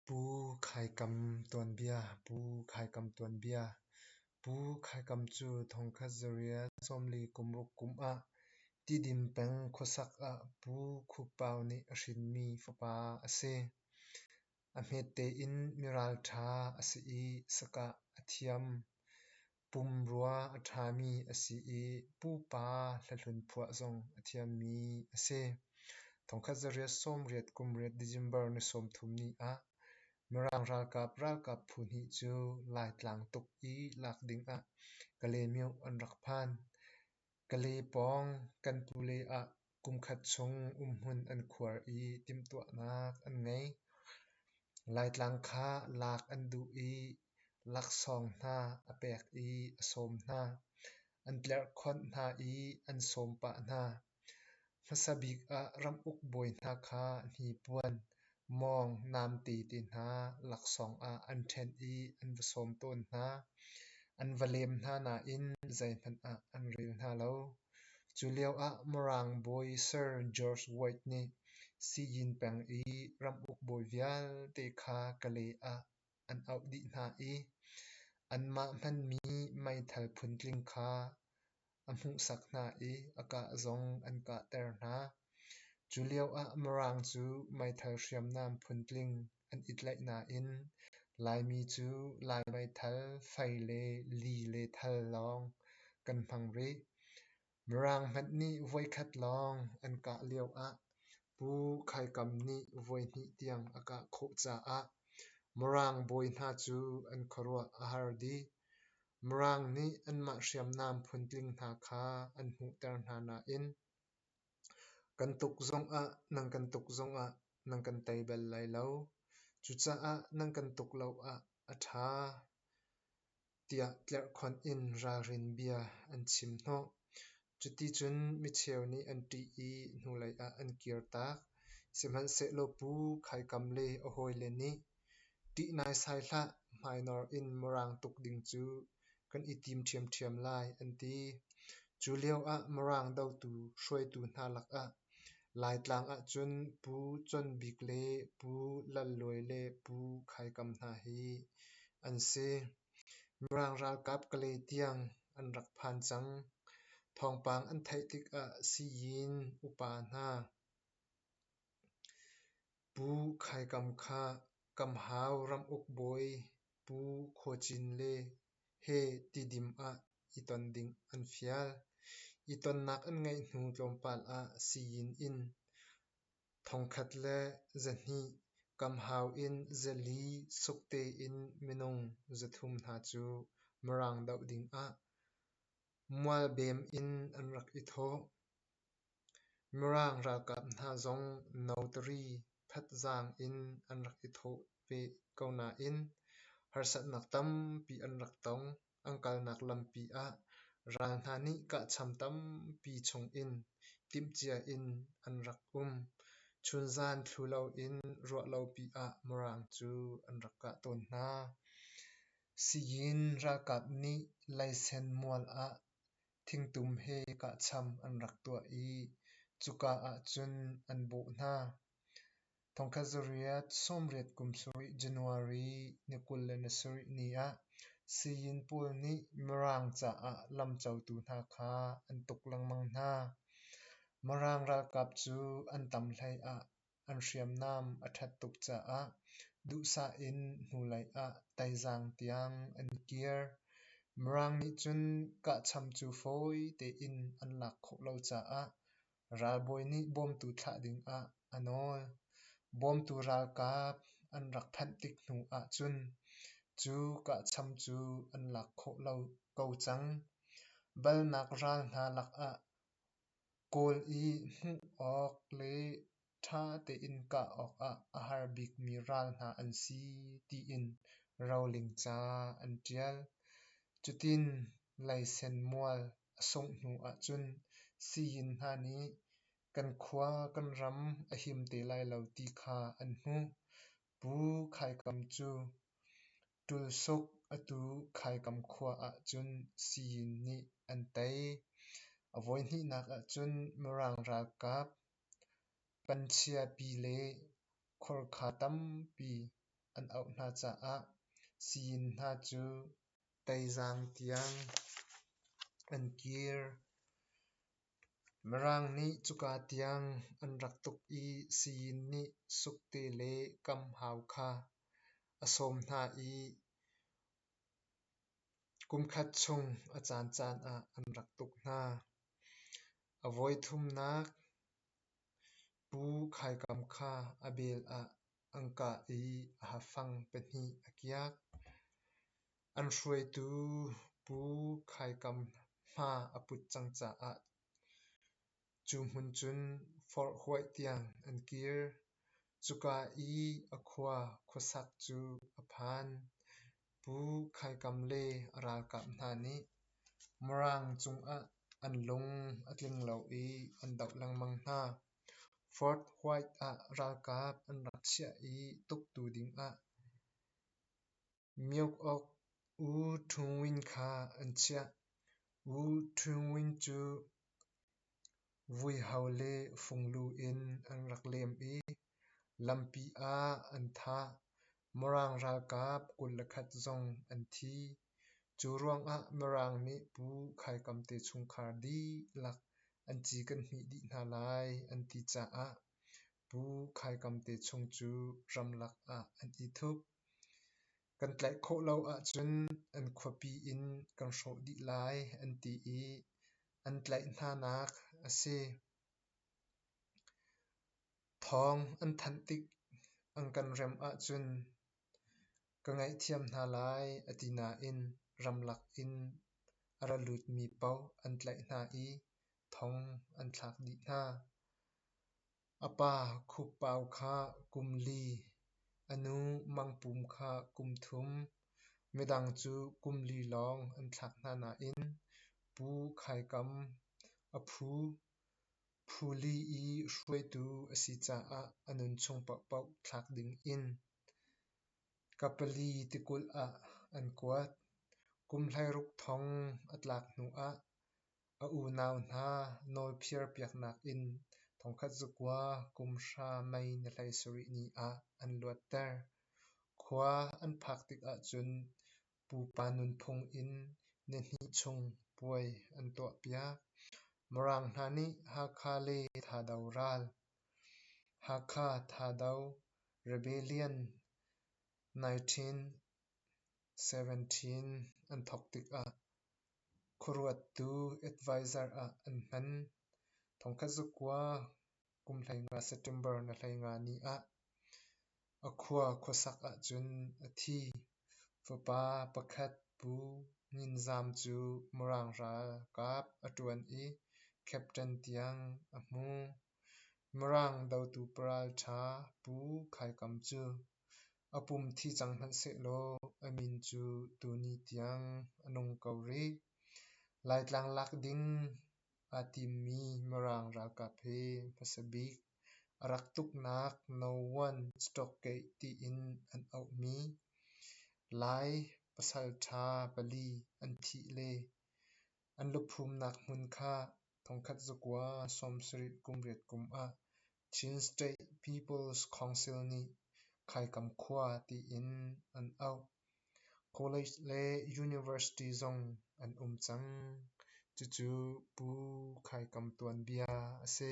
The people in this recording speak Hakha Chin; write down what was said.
Pu Khaikam tuanbia Pu Khaikam tuanbia Pu Khaikam cu thongkhat zariah sawmli kumruk kum ah Tidin peng khuasak ah Pu Khuppau nih a hrinmi fapa a si. A hmete in miralṭha a si i sakah a thiam. Pumrua a ṭhami a si i pupa hlahlun phuah zong a thiammi a si. Thongkhat zariat sawmriat kumriat December ni sawmthum ni ah Mirang ralkap ralkap phu hnih cu Laitlang tuk i lak ding ah Kalaymyo an rak phan. Kale pawng kan pule ah kumkhat chung umhmun an khuar i timhtuahnak an ngei. Laitlang kha lak an duh i laksawng hna a pek i a sawm hna. An tlerhkhonh hna i an sawm pah hna. Hmasa bik ah ramuk bawi hna kha hnipuan, mawng, namte te hna laksawng ah an ṭhen i an va sawm tawn hna. An va lem hna nain zeihmanh ah an rel hna lo. Cu lioah Mirang bawi Sir George White nih Xi Jinping i ramuk bawi vialte kha Kalay ah an auh dih hna i anmah hmanmi meithal phuntling kha a hmuhsak hna i a kah zong an kahter hna. Cu lioah Mirang cu meithal hriamnam phuntling an i tlaih nain Laimi cu Lai meithal, fei le li le thal lawng kan hmang rih. Mirang hmanh nih voikhat lawng an kah lioah Pu Khai Kam nih voihnih tiang a kah khawh caah Mirang bawi hna cu an khuaruah a har dih. Mirang nih anmah hriamnam phuntling hna kha an hmuhter hna nain kan tuk zongah nan kan tuk zongah nan kan tei bal lai lo. Cucaah nan kan tuk lo ah a ṭha tiah tlerhkhonh in ralrin bia an chim hnawh. Cuticun micheu nih an ṭih i hnulei ah an kirtak, sihmanhsehlaw pu khaikam le a hawile nih, Ṭih naisai hlah, hmainor in Mirang tuk ding cu kan i tim ṭhiamṭhiam lai, an ti. Cu lioah Mirang dotu hruaitu hna lakah Laitlang ahcun Pu Con Bik le Pu Lal Luai le Pu Khaikam hna hi an si. Mirang ralkap Kale tiang an rak phan cang, thawngpang an theih tikah sii-inn upa hna Pu Khaikam kha Kamhau ramuk bawi Pu Khuacin le he Tidim ah i ton ding an fial. I tonnak an ngeih hnu tlawmpal ah sii-inn in Thongkhat le zahnih kam hau in zali suk tein minung zathum hna cu Mirang doh dingah mualbem in an rak i thawh. Mirang ralkap hna zong notary thatzaang in an rak i thawh ve ko nain harsatnak tampi an rak tong. An kalnak lampi ah ral hna nih kahcham tampi chungin timhcia in an rak um. Chunzan thlu loin ruahlopi ah Mirang cu an rak kah tawn hna. Siyin ralkap nih leisen mual ah thingtum he kahcham an rak tuah i cuka ah cun an bawh hna. Thongkhat zarih sawmriat kum sarih January ni kul le ni sarih ni ah Sayin pawl nih Mirang caah lamcotu hna kha an tuk lengmang hna. Mirang ralkap cu an tam hlei ah an hriamnam a ṭhat tuk caah duhsah in hnulei ah taizaang tiang an kir. Mirang nih cun kahcham cu fawi tein an lak khawh lo caah Ralbawi nih bawmtu thlah dingah a nawl. Bawmtu ralkap an rak phanh tik hnu ahcun cu kahcham cu an lak khawh lo ko cang. Balnak ral hna lakah kawl i hmuh awk le ṭha tein kah awkah a har bikmi ral hna an si tiin roling ca an ṭial. Cutin leisen mual a sungh hnu ahcun sii-inn hna nih kan khua kan ram a him te lai lo ti kha an hmuh. Pu Khaikam cu Ṭulsuk atu Khaikam khua ahcun sii-inn nih an tei. A voihnihnak ahcun Mirang ralkap Pan chiapi le khorkha tampi an auh hna caah sii-inn hna cu teizaang tiang an kir. Mirang nih cuka tiang an rak tuk i sii-inn nih sukte le kam hau kha a sawm hna i Kumkhat chung a caancaan ah an rak tuk hna. A voi thumnak Pu Khaikam kha a bel ah an kah i a hafang pahnih a kiak. An hruaitu Pu Khaikam hma a put cang caah. Cu hmun cun forh huaih tiang an kir. Cuka i a khua khuasak cu a phan. Pu Khaikam le a ralkap hna nih Maraang cungah an lung a tling lo i an doh lengmang hna. Fort White ah ralkap an rak chiah i tuktu dingah Miuk awk U Ṭhung Win kha an chiah. U Ṭhung Win cu vuiho le funglu in an rak lem i lampi ah an thah. Mirang ralkap kul le khat zong an thi. Cu ruangah Mirang nih Pu Khaikam te chungkhar dihlak an ci kan hmih dih hna lai an ti caah Pu Khaikam te chung cu ramlak ah an i thup. Kan tlaih khawh lo ahcun an khuapi in kan hrawh dih lai an ti i an tlaih hnanak a si. Thawng an thanh tik an kan rem ahcun ka ngaihthiam hna lai a ti nain ramlak in a ra lutmi paoh an tlaih hna i thawng an thlak dih hna. A pa Khukpau kha kum li, a nu Mangpum kha kum thum, midang cu kum li lawng an thlak hna nain Pu Khaikam, a phu, phu li i hruaitu a si caah a nunchung paohpaoh thlak ding in ka pali tikulh ah an kuat. Kum hleiruk thong a tlak hnuah A unau hna nawlphir piaknak in thongkhat zakua kum hra mei ni hleisarih ni ah an luatter. Khua an phak tikah cun pupa nunphung in nihnih chung puai an tuahpiak. Mirang hna nih Hakha le Thado ral, Hakha Thado Rebellion 1917 an thawk tikah Khuaruattu advisor ah an hman. Thongkhat zakua kum hleinga September na hleinga ni ah a khua khuasak ahcun a thi. Fapa pakhat Pu Nyin Zam cu Mirang ralkap a ṭuan i captain tiang a hmu. Mirang dotu paralṭha Pu Khai Kam cu A pum thi cang hmanh sehlaw a min cu tuni tiang a nung ko rih. Laitlang lak ding aa timmi Mirang ralkap hi hmasa bik a rak tuknak No. 1 Stokgate tiin an auhmi, Lai pasalṭha pali an thih le an luphumnak hmun kha thongkhat zakua sawm sarih kum riat kum ah Chin State People's Council nih Khaikam khua tiin an auh. College le University zong an um cang. Cucu Pu Khaikam tuanbia a si.